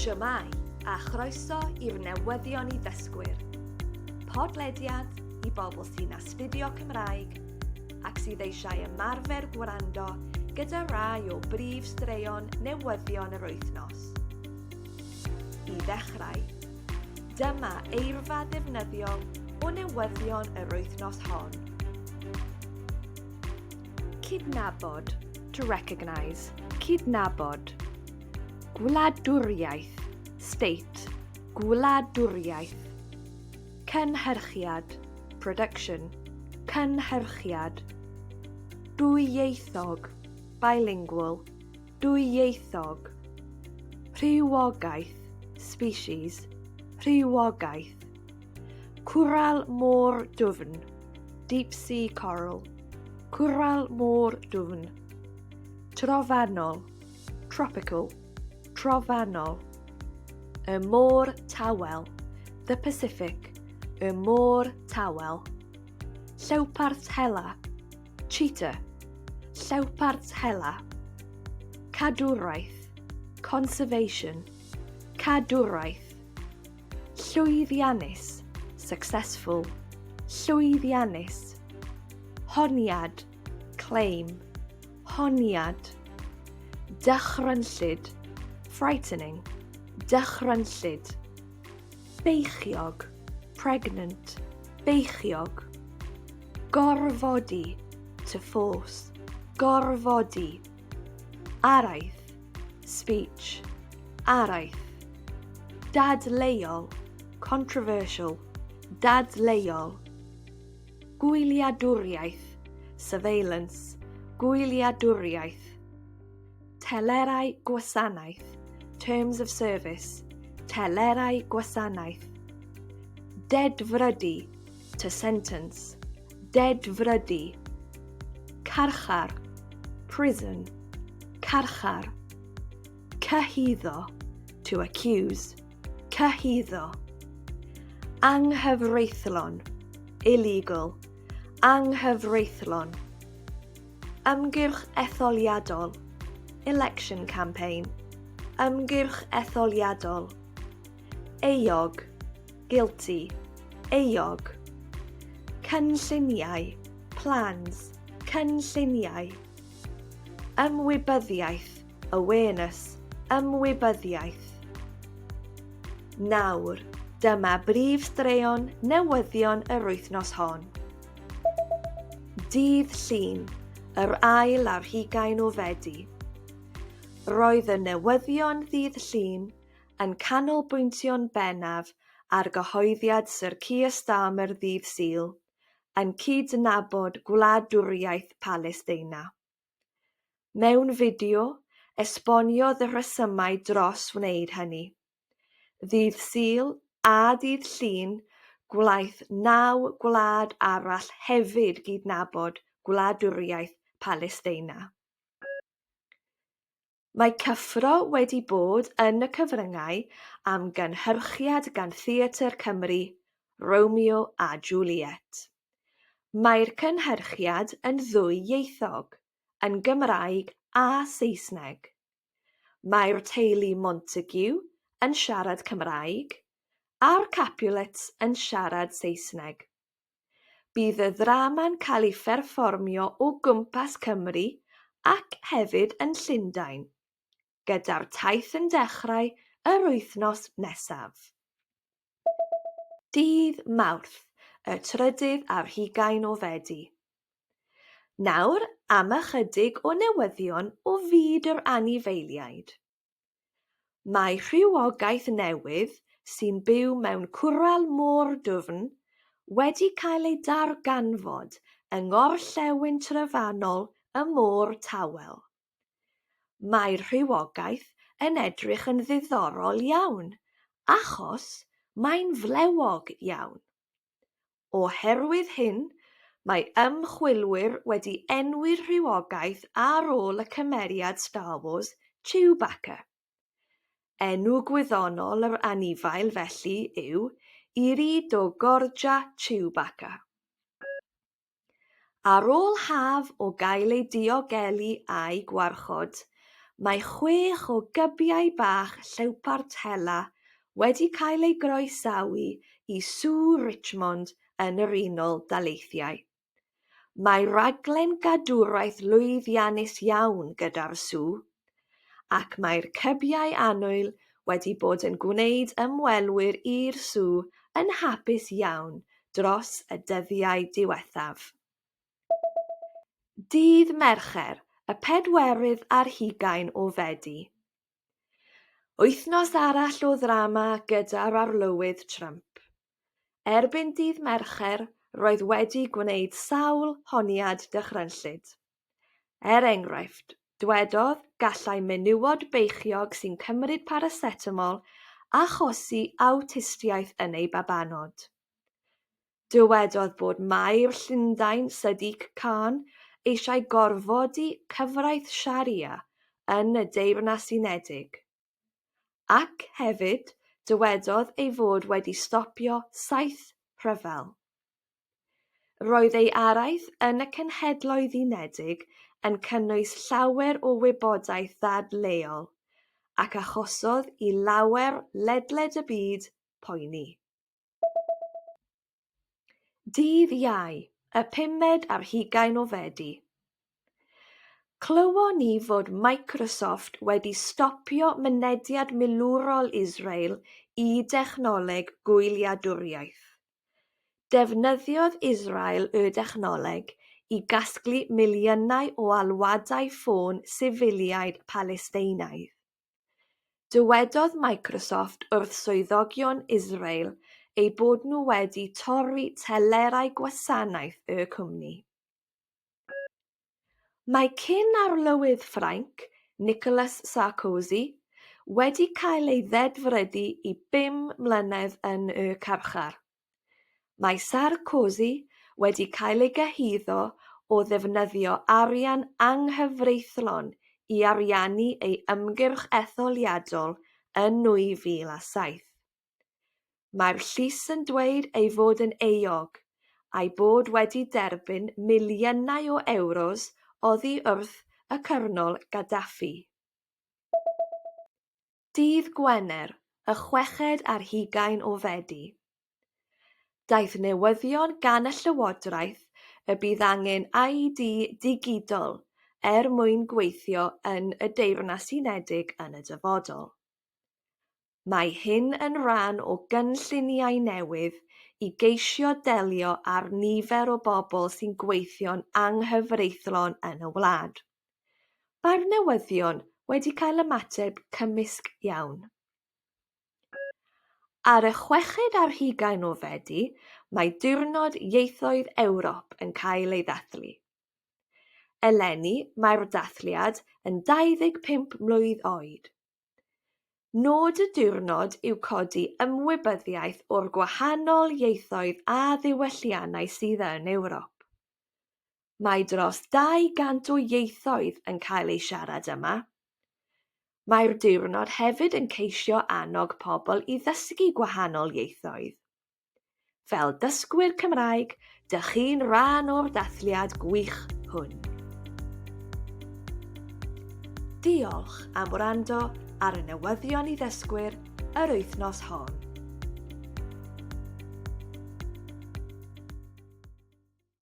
Shwmae, a chroeso i'r newyddion i ddysgwyr. Podlediad i bobl sy'n astudio Cymraeg ac sydd eisiau ymarfer gwrando gyda rai o brif straeon newyddion yr wythnos. I ddechrau, dyma eirfa ddefnyddiol o newyddion yr wythnos hon. Cydnabod, to recognise, cydnabod. Gwladwriaeth, state, gwladwriaeth. Cynhyrchiad, production, cynhyrchiad. Dwyieithog, bilingual, dwyieithog. Rhywogaeth, species, rhywogaeth. Cwrral môr dwfn, deep sea coral. Cwrral môr dwfn. Trofannol, tropical, trofannol. Y môr tawel, the Pacific, y môr tawel. Llewpart hela, cheetah, llewpart hela. Cadwraeth, conservation, cadwraeth. Llwyddiannus, successful. Llwyddiannus. Honiad, claim. Honiad. Dychrynllyd, frightening. Dychrynllyd. Beichiog, pregnant. Beichiog. Gorfodi, to force. Gorfodi. Araith, speech, araith. Dadleuol, controversial, dadleuol. Gwyliadwriaeth, surveillance, gwyliadwriaeth. Telerau gwasanaeth, terms of service, telerau gwasanaeth. Dedfrydu, to sentence, dedfrydu, carchar, prison, carchar, cyhuddo, to accuse, cyhuddo, anghyfreithlon, illegal, anghyfreithlon, ymgyrch etholiadol, election campaign, ymgyrch etholiadol, euog, Guilty, euog. Cynlluniau, plans, cynlluniau. Ymwybyddiaeth, awareness, ymwybyddiaeth. Nawr, dyma brif straeon newyddion yr wythnos hon. Dydd Llun, yr ail ar hugain o Fedi. Roedd y newyddion ddydd Llun yn canolbwyntio'n bennaf ar gyhoeddiad Sir Keir Starmer ddydd Sul, yn cydnabod gwladwriaeth Palesteina. Mewn fideo, esboniodd y rhesymau dros wneud hynny. Ddydd Sul a dydd Llun, gwnaeth naw gwlad arall hefyd gydnabod gwladwriaeth Palesteina. Mae cyffro wedi bod yn y cyfryngau am gynhyrchiad gan Theatr Cymru, Romeo a Juliet. Mae'r cynhyrchiad yn ddwy-ieithog, yn Gymraeg a Saesneg. Mae'r teulu Montague yn siarad Cymraeg, a'r Capulets yn siarad Saesneg. Bydd y ddrama'n cael ei pherfformio o gwmpas Cymru ac hefyd yn Llundain, gyda'r taith yn dechrau yr wythnos nesaf. Dydd Mawrth, y trydydd ar hugain o Fedi. Nawr am ychydig o newyddion o fyd yr anifeiliaid. Mae rhywogaeth newydd sy'n byw mewn cwrel môr dwfn wedi cael ei darganfod yng ngorllewin trofannol y Môr Tawel. Mae'r rhywogaeth yn edrych yn ddiddorol iawn achos mae'n flewog iawn. Oherwydd hyn, mae ymchwilwyr wedi enwi'r rhywogaeth ar ôl y cymeriad Star Wars, Chewbacca. Enw gwyddonol yr anifail felly yw Iridogorgia chewbacca. Ar ôl haf o gael ei diogelu a'i gwarchod, mae chwech o gybiau bach llewpart hela wedi cael eu groesawu i Sŵ Richmond yn yr Unol Daleithiau. Mae rhaglen gadwraeth lwyddiannus iawn gyda'r sŵ, ac mae'r cybiau annwyl wedi bod yn gwneud ymwelwyr i'r sw yn hapus iawn dros y dyddiau diwethaf. Dydd Mercher, y pedwerydd ar hugain o Fedi. Wythnos arall o ddrama gyda'r Arlywydd Trump. Erbyn dydd Mercher, roedd wedi gwneud sawl honiad dychrynllyd. Er enghraifft, dwedodd, gallai menywod beichiog sy'n cymryd paracetamol achosi awtistiaeth yn eu babanod. Dywedodd bod Maer Llundain Sadiq Khan eisiau gorfodi cyfraith Sharia yn y Deyrnas Unedig. Ac hefyd, dywedodd ei fod wedi stopio saith rhyfel. Roedd ei araith yn y Cenhedloedd Unedig yn cynnwys llawer o wybodaeth ddadleuol ac achosodd i lawer ledled y byd poeni. Dydd Iau, y pumed ar hugain o Fedi. Clywon ni fod Microsoft wedi stopio mynediad milwrol Israel i dechnoleg gwyliadwriaeth. Defnyddiodd Israel y dechnoleg i gasglu miliynau o alwadau ffôn sifiliaid Palesteinaidd. Dywedodd Microsoft wrth swyddogion Israel eu bod nhw wedi torri telerau gwasanaeth y cwmni. Mae cyn-arlywydd Ffrainc, Nicolas Sarkozy, wedi cael ei ddedfrydu i bum mlynedd yn y carchar. Mae Sarkozy wedi cael ei gyhuddo o ddefnyddio arian anghyfreithlon i ariannu ei ymgyrch etholiadol yn 2007. Mae'r llys yn dweud ei fod yn euog, a'i bod wedi derbyn miliynau o ewros oddi wrth y Cyrnol Gaddafi. dydd Gwener y chweched ar hugain o Fedi. Daeth newyddion gan y Llywodraeth y bydd angen ID digidol er mwyn gweithio yn y Deyrnas Unedig yn y dyfodol. Mae hyn yn rhan o gynlluniau newydd i geisio delio â'r nifer o bobl sy'n gweithio'n anghyfreithlon yn y wlad. Mae'r newyddion wedi cael ymateb cymysg iawn. Ar y chweched ar hugain o Fedi, mae Diwrnod Ieithoedd Ewrop yn cael ei ddathlu. Eleni, mae'r dathliad yn 25 mlwydd oed. Nod y diwrnod yw codi ymwybyddiaeth o'r gwahanol ieithoedd a ddiwylliannau sydd yn Ewrop. Mae dros 200 o ieithoedd yn cael eu siarad yma. Mae'r diwrnod hefyd yn ceisio annog pobl i ddysgu gwahanol ieithoedd. Fel dysgwyr Cymraeg, dych chi'n rhan o'r dathliad gwych hwn. Diolch am wrando ar y newyddion i ddysgwyr yr wythnos hon.